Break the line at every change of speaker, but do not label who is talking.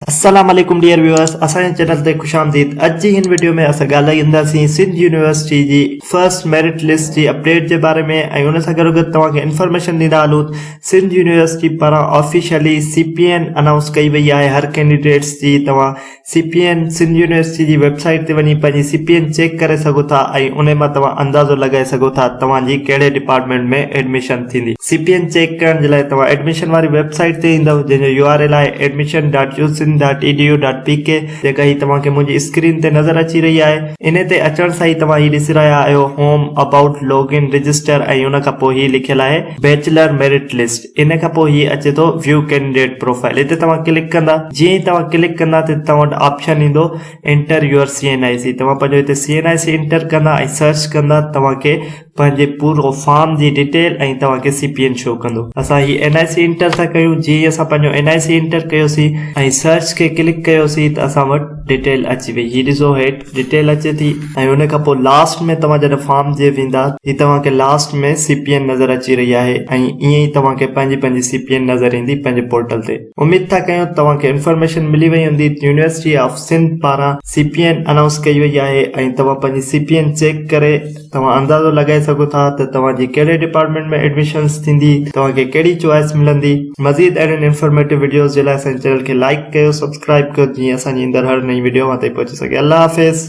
السلام عليڪم dear viewers اسان جي چينل تي خوش آمديد اڄ جي هن وڊيو ۾ اسان ڳالهائينداسين سنڌ يونيورسٽي جي فرسٽ ميرٽ لسٽ جي اپڊيٽ جي باري ۾ ۽ ان سان گڏو گڏ توهان کي انفارميشن ڏيندا هلون سنڌ يونيورسٽي پاران officially C P N announce ڪئي وئي آهي هر ڪينڊيڊيٽس جي توهان C P N Sindh university جي ويب سائيٽ تي وڃي پنهنجي سي پي اين چيڪ ڪري سگهو ٿا ۽ ان مان توهان اندازو لڳائي سگهو ٿا توهان جي ڪهڙي ڊپارٽمينٽ ۾ ايڊميشن ٿيندي. سي پي اين چيڪ ڪرڻ جي لاء توهان ايڊميشن واري ويب سائيٽ تي ايندؤ جنهن جو يو آر ايل آهي Admission dot U Sindh dot E D U dot P K جيڪا هي توهان کي منهنجي اسڪرين تي نظر اچي رهي آهي انهي تي اچڻ سان ئي توهان هي ڏسي رهيا آهيو home about log in register ۽ ان کان پوء هي لکيل آهي بيچلر ميرٽ لسٽ انهي کان پوء هي اچي ٿو ويو ڪينڊيڊيٽ پروفائيل هتي توهان ڪلڪ ڪندا جيئن ئي توهان ڪلڪ ڪندا ته هتي توهان وٽ آپشن ايندو enter your C N I C توهان پنهنجو هتي C N I C enter ڪندا ۽ سرچ ڪندا توهان کي پنهنجي پورو فارم جي ڊيٽيل ۽ توهان کي سي پي اين شو ڪندو اسان هي اين آء سي انٽر ٿا ڪيون جي ئي اسان پنهنجو اين آء سي انٽر ڪيوسي ۽ سرچ کي ڪلڪ ڪيوسي ته اسان وٽ ڊيٽيل اچي وئي هي ڏسو هيٺ ڊيٽيل اچي ٿي ۽ ان کان پوء لاسٽ ۾ توهان جڏهن فارم جي ويندا هي توهان کي لاسٽ ۾ سي پي اين نظر اچي رهي آهي ۽ ائين ئي توهان کي پنهنجي پنهنجي سي پي اين نظر ايندي پنهنجي پورٽل تي اميد ٿا ڪيون توهان کي انفارميشن ملي وئي هوندي ته يونيورسٽي آف سنڌ پاران سي پي اين انائونس ڪئي وئي آهي ۽ توهان پنهنجي سي پي اين چيڪ ڪري توهان اندازو لڳائي سگهو ٿا ته توهان جي ڪهڙي ڊپارٽمينٽ ۾ ايڊميشنس ٿيندي، توهان کي ڪهڙي چوائس ملندي. مزيد اهڙين انفارميٽو وڊيوز جي لاء اسان جي چينل کي لائيڪ ڪيو سبسڪرائيب ڪيو جيئن اسان جي ايندڙ هر نئين وڊيو اوهان تائين پهچي سگهي الله حافظ.